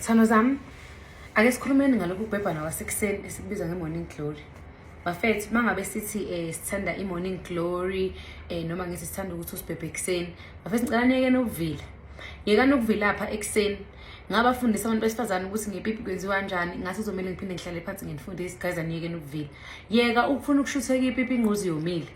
Sithando zami, ake sikhulumeni ngalokhu kubhebhana wasekuseni esikubiza nge-morning glory. Bafethu, uma ngabe sithi um sithanda i-morning glory um noma ngithi sithanda ukuthi usibhebhe ekuseni, bafethu ngicela niyekeni ukuvila. Yekani ukuvila apha ekuseni ngabafundisa abantu besifazane ukuthi ngepipi kwenziwa kanjani ngathi kuzomele ngiphinde ngihlale phansi ngenifundise guys aniyekeni ukuvila yeka ukufuna ukushutheka ipipi ingquzi yomile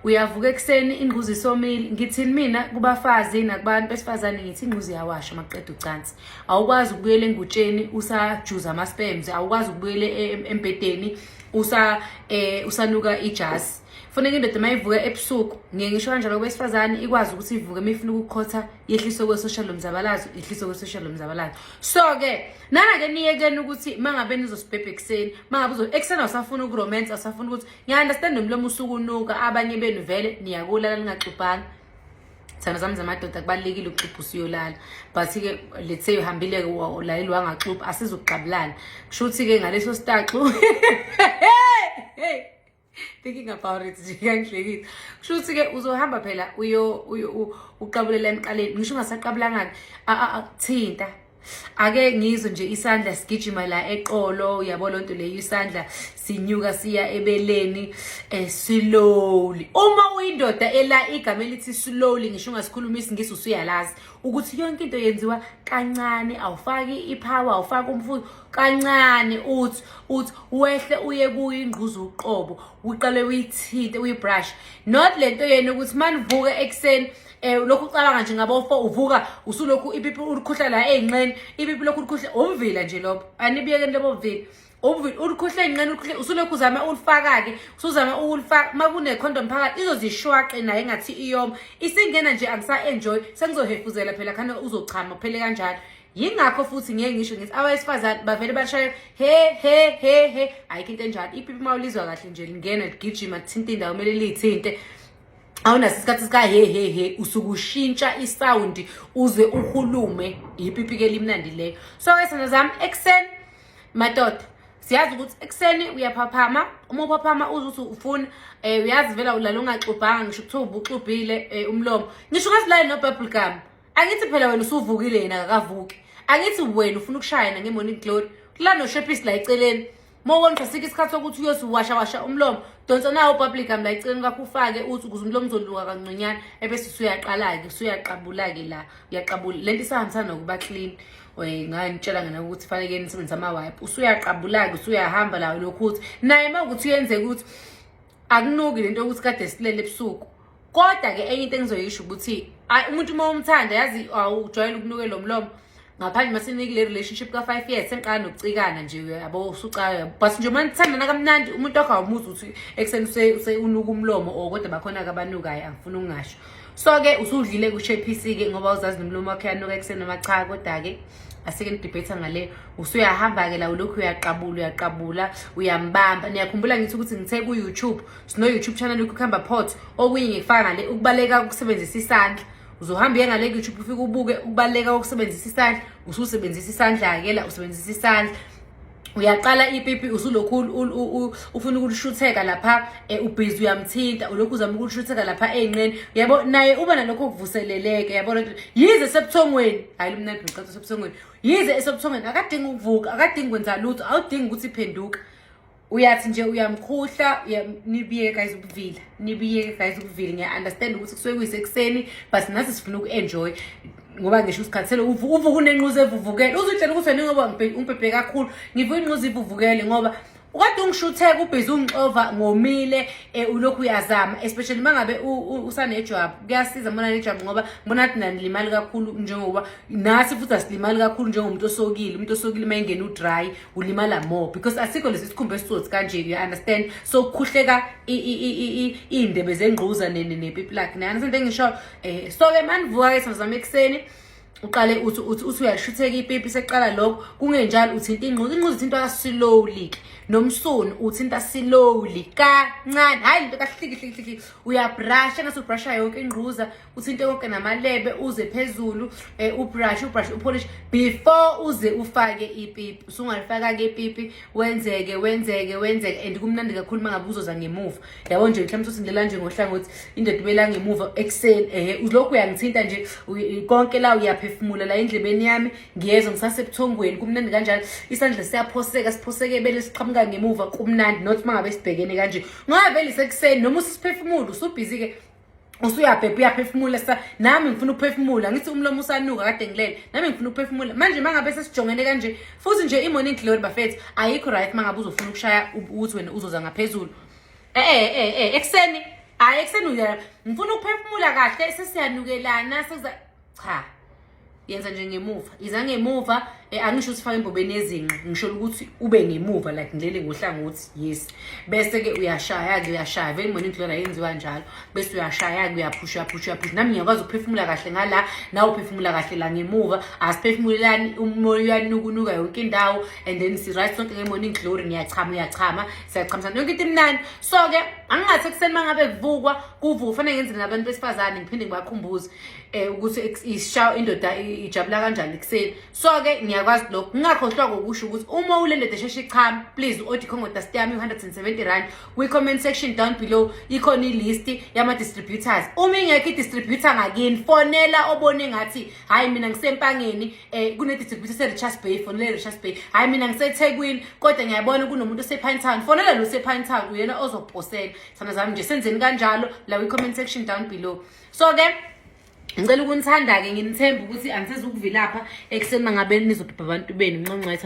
uyavuka ekuseni ingquza isomile ngithini mina kubafazi nakubantu besifazane ngithi ingquza iyawasha maqeda ucansi awukwazi ukubuyela engutsheni usajuza ama-spams awukwazi ukubuyela e-, e-, embhedeni usa eh usanuka ijasi funeka indoda uma ivuka ebusuku ngiye ngisho kanjalo kwesifazane ikwazi ukuthi ivuke uma ifuna ukukhotha yehliswe kwe-social lomzabalazo yehliswe kwe-social lomzabalazo so-ke nana-ke niyekeni ukuthi uma ngabe nizosibhebha ekuseni uma ngabe ekuseni awusafuna ukuromansa awusafuna ukuthi Ngiya-understand nomlomo usukunuka abanye benu vele niyakulala ningaxubhanga thana zami zamadoda kubalulekile ukuxubha usuyolala but-ke let's say uhambile-ke ulaleli wangaxubha asizukuqabulana kusho ukuthi-ke ngaleso staxu thinking about it nje kangihlekile kusho ukuthi-ke uzohamba phela uqabulela emqaleni ngisho ungasaqabulangani thinta ake ngizwe nje isandla sigijima la eqolo uyabo lonto leyo isandla sinyuka siya ebeleni eh, slowly uma uyindoda ela igama elithi slowly ngisho ungasikhuluma isingisi usuyalazi ukuthi yonke into yenziwa kancane awufaki ipower awufaki umfuzo kancane uthi uthi wehle uye kuyo ingquza uqobo uqale uyithinte uyibrush not lento yena ukuthi manivuka ekseni eh lokhu ucabanga nje ngabofo uvuka usulokhu ipipi ulikhuhla la ezinqeni ipipi lokhu ulikhuhla umvila nje lobo anibiyekeni lobo vila umvila ulikhuhla ezinqeni ulikhuhla usulokhu uzama ulifaka ke usuzama ukulifaka makune condom phakathi izozishwaqe naye ngathi iyoma isingena nje akusa enjoy sengizohefuzela phela khane uzochama phele kanjalo yingakho futhi ngeke ngisho ngithi abesifazane bavele bashaye he he he he ayikho into enjalo ipipi mawulizwa kahle nje lingena ligijima kuthinta indawo kumele liyithinte awunaso isikhathi sika he he he usuke ushintsha isound uze uhulume yipipi ke limnandi leyo so esana zami ekseni madoda siyazi ukuthi ekseni uyaphaphama uma uphaphama uze uthi ufuna um uyazi vela ulala ungaxubhanga ngisho kuthiwa ubuxubhile um eh, umlomo ngisho ungazilali nobubble gum angithi phela wena usuvukile yena akakavuki angithi wena ufuna ukushayana nge-morning glory kula noshepisi la eceleni uma uwonqa sikho isikhathi sokuthi uyosiwasha washa umlomo donsa nawo public am la eceleni kwakho ufake uthi ukuze umlomo uzoluka kanconyana ebese usuyaqala-ke usuyaqabula-ke la uyaqabula le nto isahambisana nokuba clean eh, nganitshela ngena ukuthi faneke nisebenzisa ama-wipe usuyaqabula-ke usuyahamba lawo lokhu ukuthi naye uma ukuthi uyenzeka ukuthi akunuki le nto yokuthi kade silele ebusuku kodwa ke enye into engizoyisho ukuthi ayi umuntu uma umthanda yazi awujwayele ukunuke lo mlomo ngaphandle uma sinikile relationship ka-five years sengiqala nokucikana nje yabo usucaya but nje uma nithandana kamnandi umuntu wakho awumuzi ukuthi ekuseni unuka umlomo or kodwa bakhona-ke abanukayo angifuni ukungasho so-ke usudlile kusho ephisi-ke ngoba uzazi nomlomo wakhe yanuka ekuseni noma cha kodwa-ke asike nidibhetha ngale usuyahamba-ke la ulokhu uyaqabula uyaqabula uyambamba niyakhumbula ngithi ukuthi ngithe ku-youtube sino YouTube channel yokuhamba pot okunye ngikufaka ngale ukubaleka ukusebenzisa isandla uzohamba uye ngale YouTube ufike ubuke ukubaleka ukusebenzisa isandla ususebenzisa isandla akela usebenzisa isandla uyaqala ipipi usulokhu ufuna ukulishutheka lapha e, ubhizi uyamthinta ulokhu uzama ukulishutheka lapha eyinqeni yabo naye uba nalokho kuvuseleleke yabo lento yize sebuthongweni hayi lomnandi ngicatha sebuthongweni yize esebuthongweni akadingi ukuvuka akadingi kwenza lutho awudingi ukuthi phenduka uyathi nje uyamkhuhla nibiyeke guys ukuvila nibiyeke guys ukuvila ngiya-understand ukuthi kusuke kuyisekuseni but nathi sifuna uku-enjoy ngoba ngisho usikhathele uvuka unenquza evuvukele uzitshela ukuthi wena ngoba umbhebhe kakhulu ngivuka inquza ivuvukele ngoba ukade ungishutheka ubhizi ungixova ngomile um ulokhu uyazama especially uma ngabe usanejwabu kuyasiza mbona nejwabu ngoba mbona athi nanilimali kakhulu njengoba nathi futhi asilimali kakhulu njengomuntu osokile umuntu osokile uma engena udry ulimala more because asikho lesi sikhumba esisothi kanje you understand so kukhuhleka iy'ndebe zengquza nepipi lakhe niyani sento engisho um eh, so-ke manivuka-ke sazama ekuseni uqale uthi uthi uthi uyashutheka ipipi seqala lokho kungenjalo uthinta ingquza ingquza ithinta kasilowly-ke nomsunu uthinta silowly kancane hhayi lento kahlikihliki uyabrasha engathi ubrasha yonke ingquza uthinte konke namalebe uze phezulu um eh, ubrush ubrush upolish before uze ufake ipipi usungalifaka-ke ipipi wenzeke wenzeke wenzeke and kumnandi kakhulu uma ngabe uzoza ngemuva yabo nje mhlawumbe sothi ndlela nje ngohlangothi indoda ubela ngemuva ekuseni ehe lokhu uyangithinta nje konke la uyaphefumula la endlebeni yami ngiyezwa ngisasebuthongweni kumnandi kanjalo isandla siyaphoseka siphoseke ebele siqhamuka ngemuva kumnandi not uma ngabe sibhekene kanje ngoba vele isekuseni noma usisiphefumulo usubhizi-ke usuyabhebha uyaphefumula sa nami ngifuna ukuphefumula ngithi umlomo usanuka kade ngilele nami ngifuna ukuphefumula manje mangabe sesijongene kanje futhi nje i-morning glory bafethu ayikho right mangabe uzofuna ukushaya ukuthi wena uzoza ngaphezulu eh eh eh, eh ekuseni hayi ekuseni ngifuna ukuphefumula kahle sesiyanukelana sekuza cha yenza nje ngemuva iza ngemuva eh, angisho ukuthi fake embobeni yezinqa ngisho ukuthi ube ngemuva like ngilele ngohlangothi yes bese-ke uyashaya-ke uyashaya vele ngibona into lona yenziwa njalo bese uyashaya-ke uyaphusha uyaphusha uyaphusha nami ngiyakwazi ukuphefumula kahle ngala nawe uphefumula kahle la ngemuva asiphefumulelani umoya uyanukunuka yonke indawo and then si-right sonke nge-morning glory ngiyachama uyachama siyachamisana yonke into imnandi so ke angingathi ekuseni mangabe kuvukwa kuvuka kufanele ngenzele nabantu besifazane ngiphinde ngibakhumbuze eh ukuthi ishawa indoda ijabula kanjani ekuseni so ke ngiyakwazi lokho ngingakhohlwa kokusho ukuthi uma ule ndoda esheshe ichame please odi khongo dust yami 170 rand kwi comment section down below ikhona ilist yama distributors uma ingekho i distributor ngakini fonela obone ngathi hayi mina ngisempangeni um eh, kunedistributor se-richards bay fonele richards bay hayi mina ngisethekwini kodwa ngiyabona kunomuntu osepine town fonele lo sepine town uyena ozoposela sana zami nje senzeni kanjalo la kwi-comment section down below so ke ngicela ukunithanda-ke nginithembe ukuthi angisezukuvilapha ekuseni mangabe nizodobha abantu benu nxonxetha